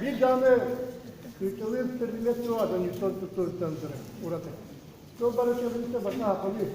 Биир даҕаны кыйталыыр тэрилгэ суох адамньыттан туттуруттан турар ураты. Ол бары кэлбитэ бата хахалыы.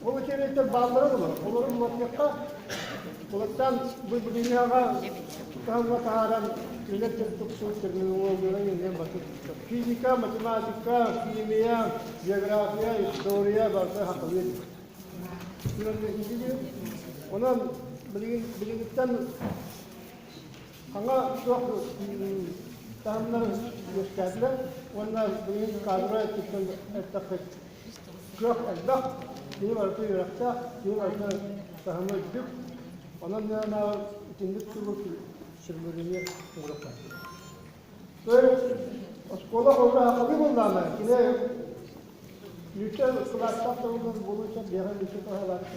Ол үчүгэйтэр бааллара да бар. Олору муоттахха, улаттан былдьыгыйааҕа таһымҥа таһааран үлэ тупсуу терминологиялара иһинэн батыр. Физика, математика, химия, география, история бары хахалыы. Онон билигин билигиттэн Саҥа суох таһымнары үөскээтилэр уонна билигин каадыры өттүттэн эттэхпит. Кыах элбэх, киһи барыта үөрэхтээх, киһи барыта таһыма үрдүк. Онон гынанаҕар итинник тугу сүрмүрүнү уураттахпыт. Оскуола холбоһо хобі буллаама, кини Лүтэ кылааттах тылын булууча биэхэ лүтэ тоһалаатта.